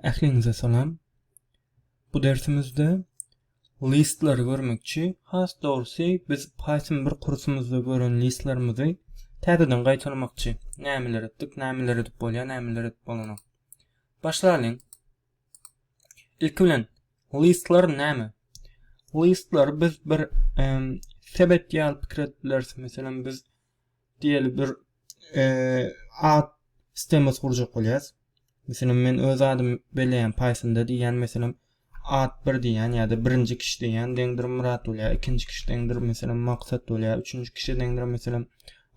Ähliňize salam. Bu dersimizde listlary görmekçi, has dogrusy biz Python bir kursumyzda gören listlarymyzy täzeden gaýtalamakçy. Nämeler etdik, nämeler edip bolýar, nämeler edip bolanok. Başlalyň. Ilki bilen listlar näme? Listlary biz bir sebet ýaly pikir edip bileris. Meselem biz diýeli bir at stemesi gurjak bolýas. Meselem men öz adymy belleýän Pythonda diýýän meselem at bir diýýän ýa-da birinji kişi diýýän deňdir Murat bolýar, ikinji kişi deňdir meselem Maksat bolýar, üçünji kişi deňdir meselem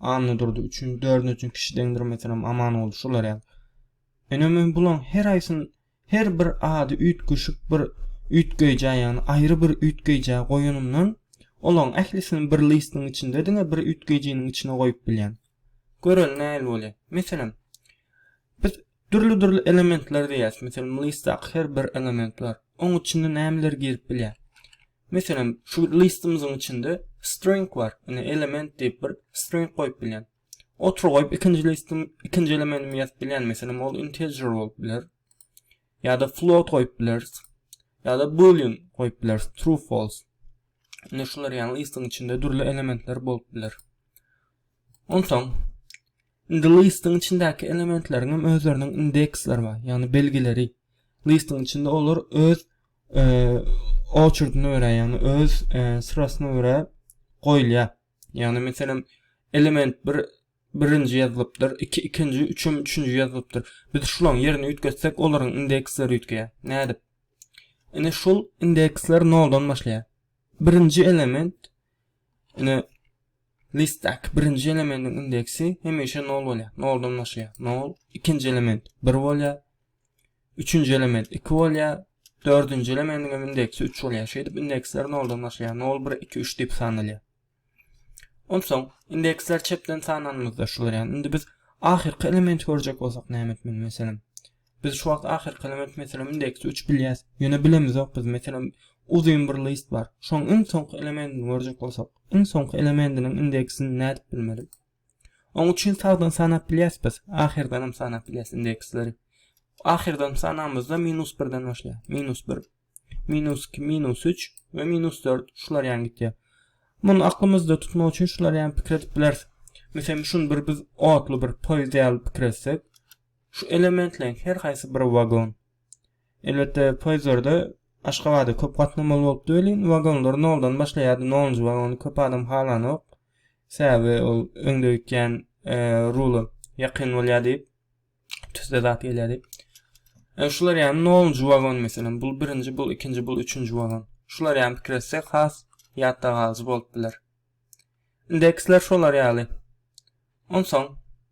Anna durdy, üçünji, dördünji kişi deňdir meselem Amanguly şular ýaly. Ene men bularyň her aýsyny Her bir ady üýtgeşik bir üýtgeýjä, ýagny aýry bir üýtgeýjä goýanymdan, olaryň ählisini bir lystyň içinde diňe bir üýtgeýjiniň içine goýup bilýän. Göreli nähili bolýar? Meselem, biz dürli-dürli elementler diýýäs. Meselem, lystdaky her bir element bar. Oň içinde nämeler girip bilýär? Meselem, şu lystymyzyň içinde string bar. Ine, element diýip bir string goýup bilýän. Otur goýup ikinji listim ikinji elementim ýazyp bilýän meselem ol integer bolup biler. Ýa-da float goýup bileris. Ýa-da boolean goýup bileris. True false. Indi şular ýaly listiň içinde dürli elementler bolup biler. Onsoň indi listiň içindäki elementleriň hem özleriniň indeksleri bar, ýagny belgileri. Listiň içinde olar öz e, oçurdyna görä, ýagny öz e, syrasyna görä goýulýar. Ýagny meselem element bir birinji ýazylypdyr, iki ikinji, üçem üçünji ýazylypdyr. Biz şularyň ýerini üýtgetsek, olaryň indeksleri üýtgeýär. Nädip? Ine şul indeksler noldan başlaýar. Birinji element ine listdäki birinji elemendiň indeksi hemişe nol bolýar. Noldan başlaýar. Nol, ikinji element bir bolýar. Üçünji element iki bolýar. Dördünji elemendiň hem indeksi üç bolýar. Şeýdip indeksler noldan başlaýar. Nol, bir, iki, üç diýip sanalýar. Onsoň indeksler çepden sananymyzda şu bolýar. Indi biz ahyrky elementi görjek bolsak näme etmeli meselem? Biz şu wagt ahyrky element meselem indeksi üç bilýäs. Ýöne bilemizok biz meselem uzyn bir list bar. Şoň iň soňky elementini görjek bolsak, iň soňky elementiniň indeksini nädip bilmeli? Oň üçin sagdyn sanap bilýäs biz, ahyrdanam sanap bilýäs indeksleri. Ahyrdan sanamyzda minus birden başlaýar. Minus bir, minus iki, minus üç we minus dört şular ýan gitýär. Muny aklymyzda tutmak üçin şular ýan pikir edip bileris. Meselem, şuny bir biz otly bir poýizd ýaly pikir etsek, şu elementleriň her haýsy bir wagon. Elbetde, poezdlarda Aşgabada köp gatnamaly bolupdy welin, wagonlar noldan başlaýardy, nolunjy wagony köp adam halanok. Sebäbi ol öňde gitýän rula ýakyn bolýar diýip, tüsse zat gelýär diýip. E, şular ýaly nolunjy wagon meselem, bul birinji, bul ikinji, bul üçünji wagon. Şular ýaly pikir etse has ýatda galyjy bolup biler. Indeksler şolar ýaly. Onsoň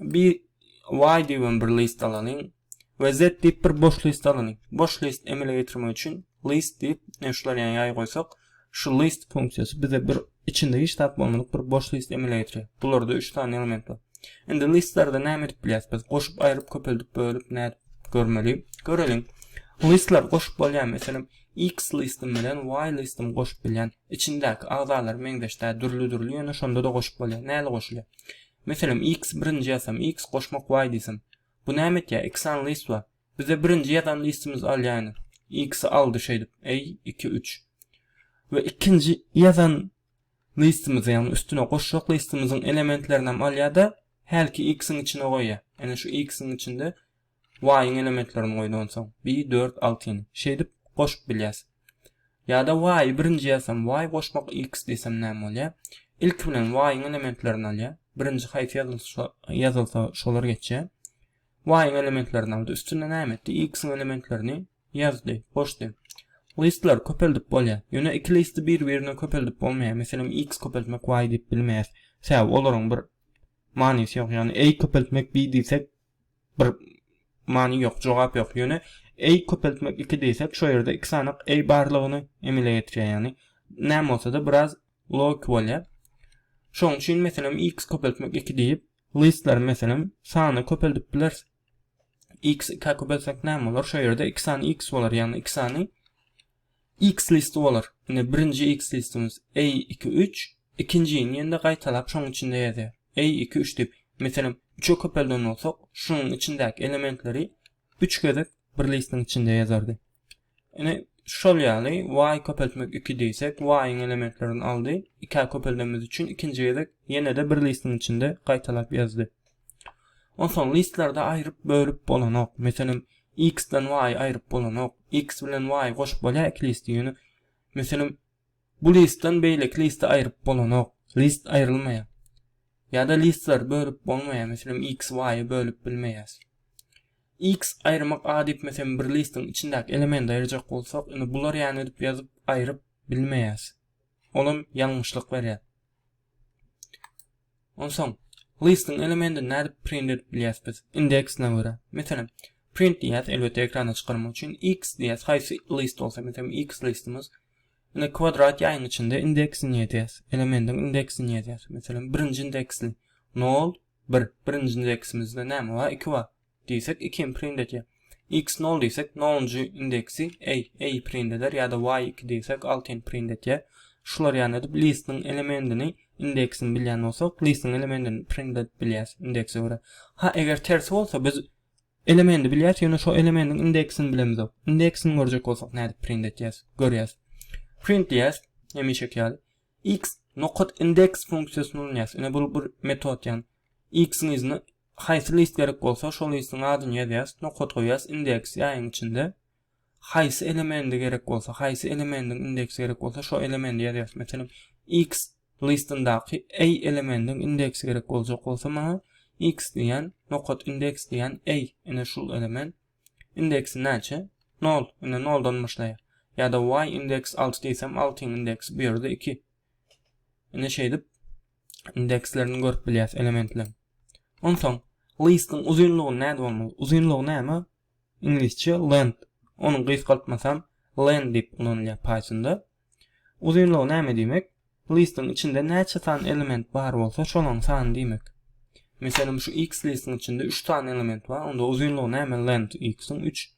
Bir Y diýip hem bir list alalyň we Z diýip bir boş list alalyň. Boş list emele getirmek üçin list diýip e, şular ýaly ýaý goýsak, şu list funksiýasy bize bir içinde hiç zat bolmadyk bir boş list emele getirýär. Bularda 3 sany element bar. Indi listlerde näme edip bilýäris biz? Goşup, aýryp, köpeldip, bölüp nädip görmeli? Göreliň. Listler goşup bolýarmy? Meselem, X listim bilen Y listim goşup bilýän. Içindäki agzalar meňzeş däl, dürli-dürli, ýöne şonda-da goşup bolýar. Näle goşulýar? Meselem, X birinji ýazsam, X goşmak Y diýsem. Bu näme etýär? Iki sany list bar. Bizde birinji ýazan listimiz alýanyr. X-i aldy şeýdip. I, iki, üç. We ikinji ýazan listimizi, ýagny üstüne goşjak listimiziň elementlerinem alýar-da, hälki X-iň içine goýýar. Ene şu X-iň içinde Y-yň elementlerini goýdy onsoň. Bir, dört, altyny. Şeýdip goşup bilýäs. Ýa-da Y-y birinji ýazsam, Y goşmak X diýsem näme bolýar? Ilki bilen Y-yň elementlerini alýar. Birinji haýsy ýazylsa, ýazylsa şolar geçýär. Y-yň elementlerini aldy. Üstüne näme etdi? X-yň elementlerini ýazdy, goşdy. Listleri köpeldip bolýar. Ýöne iki listi bir-birine köpeldip bolmaýar. Meselem, X köpeltmek Y diýip bilmeýäs. Sebäbi olaryň bir manysy ýok. Ýagny, Y köpeltmek Y diýsek, Bir many ýok jogap ýok ýöne ey köpeltmek iki diýsek şo ýerde iki sanyk ey barlygyny emele getirýär ýagny näme bolsada biraz logiki bolýar şoň üçin meselem x köpeltmek iki diýip listleri meselem sany köpeldip bileris x iki köpeltsek näme bolar şo ýerde iki sany x bolar ýagny iki sany X listy bolar. Ine birinji X listimiz A iki üç, ikinjini ýene-de gaýtalap şoň içinde ýazýar. A iki üç diýip. Meselem, üçe köpelden bolsak, şunuň içindäki elementleri üç gezek bir listiň içinde ýazardy. Ine, şol ýaly Y köpeltmek iki diýsek, Y-yň elementlerini aldy, ikä köpeldemmiz üçin ikinji gezek ýene-de bir listiň içinde gaýtalap ýazdy. Onsoň listlarda aýryp bölüp bolanok. Meselem, X-den Y aýryp bolanok. X bilen Y goşup bolýar iki listi ýöne meselem bu listden beýleki liste aýryp bolanok. List aýrylmaýar. Ýa-da listleri bölüp bolmaýar. Meselem, X Y-y bölüp bilmeýäs. X aýyrmak A diýip meselem bir listiň içindäki elementi aýyrjak bolsak, indi bular ýaly edip ýazyp aýryp bilmeýäs. Olam ýalňyşlyk berýär. Onsoň listyň elementini nädip print edip bilýäs biz? Indeksine görä. Meselem, print diýýäs, elbetde ekrana çykarmak üçin, x diýýäs, haýsy list bolsa, meselem, x listimiz. Indi kwadrat ýaýyň içinde indeksini ýazýas, elementiň indeksini ýazýas. Meselem, birinji indeksli, nol, bir. Birinji indeksimizde näme bar? Iki bar. diýsek iki hem print edýär. X nol diýsek nolunjy indeksi a a print eder ýa-da y iki diýsek altyny print edýär. Şular ýaly edip listiniň elemendini indeksini bilýän bolsak listiniň elemendini print edip bilýäris indekse görä. Ha eger tersi bolsa biz elemendi bilýäris ýöne şo elemendiň indeksini bilemizok. Indeksini görjek bolsak nädip print edýäris? Görýäris. Print diýýäris hemişeki ýaly. X nokat indeks funksiýasyny ulanýarys. Ine bu bir metod ýaly. X-iň yzyna Haýsy list gerek bolsa şol listiň adyny ýazýas, nokat goýýas, indeks ýaýyň içinde haýsy elemendi gerek bolsa, haýsy elemendiň indeksi gerek bolsa şo elemendi ýazýas. Meselem X listyndaky A elemendiň indeksi gerek boljak bolsa maňa X diýýän, nokat indeks diýýän A ine şul element indeksi näçe? Nol, ine noldan başlaýar. Ýa-da Y indeks alty diýsem altyň indeksi bu ýerde iki. Indi şeýdip indekslerini görüp bilýäs elementleriň. Onsoň listiň uzynlygy näde bolmaly? Uzynlygy näme? Iňlisçe length. Onuň gysgaltmasy hem len diýip ulanylýar Pythonda. Uzynlygy näme diýmek? Listiň içinde näçe sany element bar bolsa, şolaryň sany diýmek. Meselem, şu x listiň içinde 3 sany element bar, onda uzynlygy näme length x-iň 3.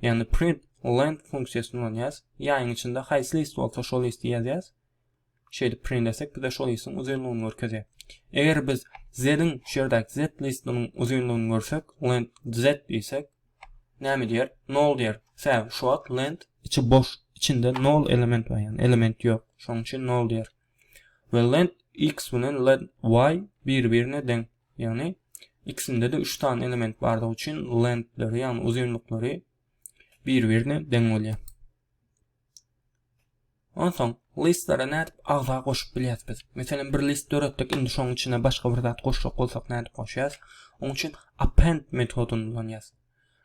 Ýagny print length funksiýasyny ulanýas. Ýaýyň içinde haýsy list bolsa şol listi ýazýas. Şeýdip print etsek bize şol listiň uzynlygyny görkezýär. Eger biz z-iň şu ýerdäki z listiniň uzynlygyny görsek, length z diýsek, näme diýer? Nol diýer. Sebäbi şu wagt length içi boş, içinde nol element bar, ýagny element ýok. Şonuň üçin nol diýer. we lent x bilen lent y bir-birine deň. Ýagny ikisinde-de 3 sany element bardygy üçin lentleri, ýagny uzynlyklary bir-birine deň bolýar. Onsoň listlara nädip agza goşup bilýäs biz? Meselem bir list döretdik, indi şoň içine başga bir zat goşjak bolsak nädip goşýas? Oň üçin append metodyny ulanýas.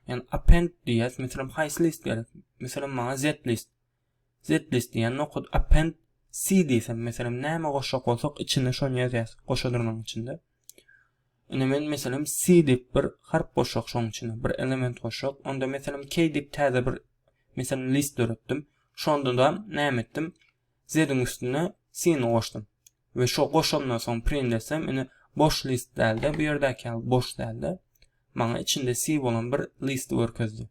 Ýagny append diýýäs, meselem haýsy list gerek? Meselem maňa z list. Zlist diýen nokat append C diýsem meselem näme goşjak bolsak içinde şony ýazýas goşa durnagyň içinde. Indi men meselem C diýip bir harp goşjak şoň içine bir element goşjak onda meselem K diýip täze bir meselem list döretdim. Şonda da näme etdim? Z-iň üstüne C-ni goşdum. Ve şo goşandan soň print etsem indi boş list dälde bu ýerdäki ýaly boş dälde maňa içinde C bolan bir list görkezdi.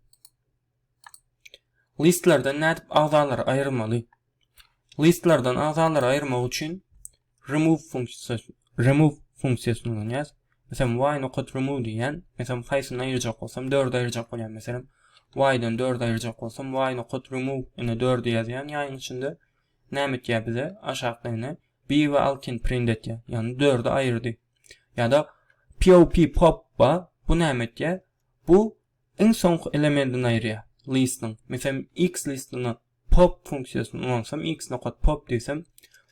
Listlerden nädip agzalary aýyrmaly? Listlerden agzalary aýyrmak üçin remove funksiýasy remove funksiýasyny ulanýas. Meselem, why nokat remove diýýän. Meselem, haýsyny aýyrjak bolsam, 4 aýyrjak bolýan. Meselem, why-den 4 aýyrjak bolsam, why nokat remove ine 4 ýazýan ýaýyň içinde. Näme etýär bize? Aşakda ine B we alkyn print etýär. Ýagny 4-i aýyrdy. Ýa-da POP pop ba bu näme etýär? Bu Iň soňky elementin aýyrýar. Listiniň. Meselem, X listine pop funksiýasyny ulanypsam, X nokat pop diýsem,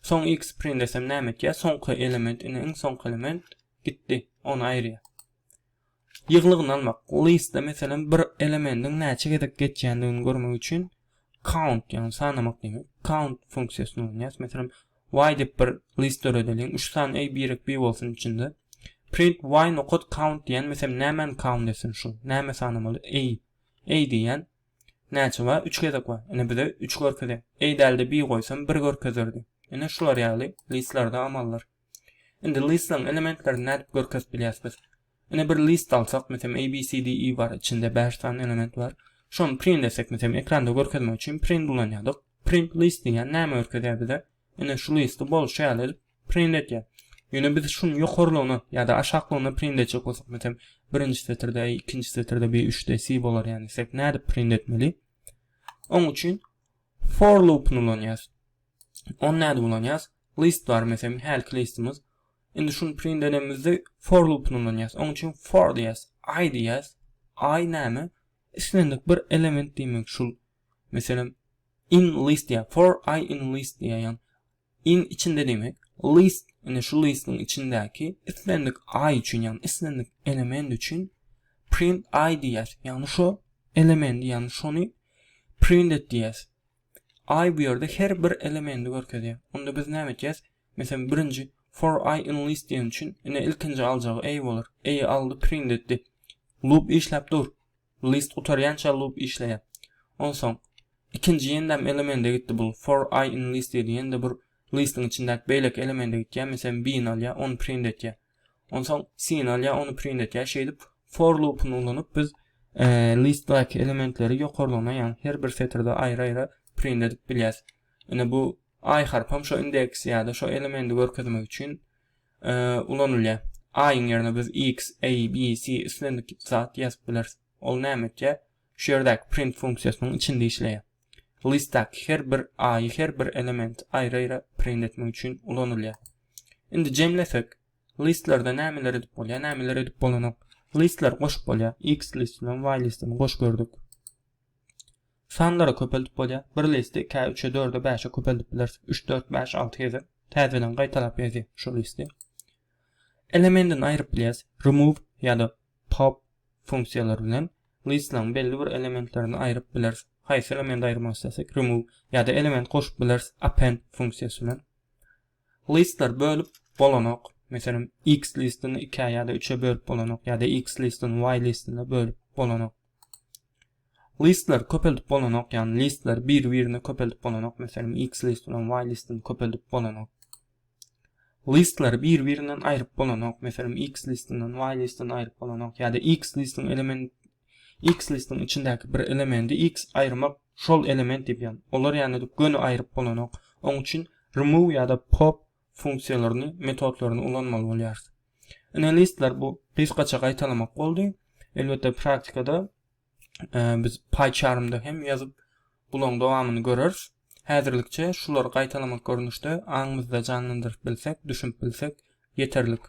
soň X-i print etsem näme etýär? Soňky element, ine, iň soňky element gitdi, ony aýyrýar. Ýyglygyny almak. Listde, meselem, bir elemendiň näçe gezek geçýändigini görmek üçin count ýagny sanamak diýmek count funksiýasyny ulanýas meselem y dep bir list döredeliň üç san eý birek bi bolsun içinde print y nokat count diýen meselem nämäni count etsin şu näme sanamaly eý eý diýen näçe bar üç gezek bar ine bize üç görkezýär eý dälde bi goýsam bir görkezerdi ine şular ýaly listlerde amallar Indi listlaryň elementlerini nädip görkezip bilýäs biz? Ine bir list alsak, meselem A, B, C, D, E bar, içinde 5 sany element bar. Şony print etsek, meselem ekranda görkezmek üçin print ulanýardyk. Print list diýýän näme görkezýär bize? Ine şu listi bolşy ýaly edip print edýär. Ýöne biz şuny ýokarlygyna ýa-da aşaklygyna print etjek bolsak, meselem birinji setirde A, ikinji setirde B, üçde C bolar ýaly etsek, nädip print etmeli? Oň üçin for loopuny ulanýarys. Ony nädip ulanýarys? List bar meselem hälki listimiz. Indi şuny print edemizde for loopyny ulanýas. Onuň üçin for diýýäs, i diýýäs. I näme? Islendik bir element diýmek şul. Meselem in list diýýär. For i in list diýýär. In içinde diýmek. List indi şu listiň içindäki islendik i üçin, ýagny islendik element üçin print i diýýäs. Ýagny şu elemendi, ýagny şony print et diýýäs. I bu ýerde her bir elementi görkezýär. Onda biz näme etjäs? Meselem, birinji for i in list diýen üçin, ine ilkinji aljagy i bolar. I-i aldy, print etdi. Loop işläp dur. List gutarýança loop işleýär. Onsoň ikinji ýendäm elemente gitdi bul. For i in list diýdi. Ýende bir listiň içindäki beýleki elemente gitýär. Meselem, b-ni alýar, ony print etýär. Onsoň sin alýar, ony print etýär. Şeýdip for loopuny ulanyp biz e, listdaky elementleri ýokarlaryna, ýagny her bir setirde aýry-aýry print edip bilýäris. Ine bu aý harpam şo indeks ýa-da şo elementi görkezmek üçin e, ulanylýar. Aýyň ýerine biz x, a, b, c islendik zat ýazyp bileris. Ol näme etýär? Şu ýerdäki print funksiýasynyň içinde işleýär. Listdaky her bir aýy her bir elementi aýry-aýra print etmek üçin ulanylýar. Indi jemlesek, listlarda nämeler edip bolýar, nämeler edip bolanok. Listlary goşup bolýar. X list bilen Y listini goşup gördük. Sanlary köpeldip bolýar. Bir listi 2-ä, 3-e, 4-e, 5-e köpeldip bileris. 3, 4, 5, 6 gezek. Täzeden gaýtalap ýazýar şu listi. Elementini aýryp bilýäris. Remove ýa-da pop funksiýalary bilen listlaryň belli bir elementlerini aýryp bileris, haýsy elementi aýyrmak islersek, remove, ýa-da element goşup bileris, append funksiýasy bilen. Listleri bölüp bolanok. Meselem, X listini ikä ýa-da üçe bölüp bolanok, ýa-da X listini Y listine bölüp bolanok. Listleri köpeldip bolanok, ýagny listleri bir-birine köpeldip bolanok, meselem, X list bilen Y listini köpeldip bolanok. Listlary bir-birinden aýryp bolanok, meselem X listyndan Y listini aýryp bolanok ýa-da X listiň element X listiň içindäki bir elemendi X aýyrmak şol element diýip ýan, olar ýanada göni aýryp bolanok. Oň üçin remove ýa-da pop funksiýalaryny, metodlaryny ulanmaly bolýarys. Ine listler bu gysgaça gaýtalamak boldy. Elbetde praktikada biz PyCharm-da hem ýazyp, bularyň dowamyny göreris. Häzirlikçe şulary gaýtalamak görnüşde aňymyzda janlandyryp bilsek, düşünip bilsek ýeterlik.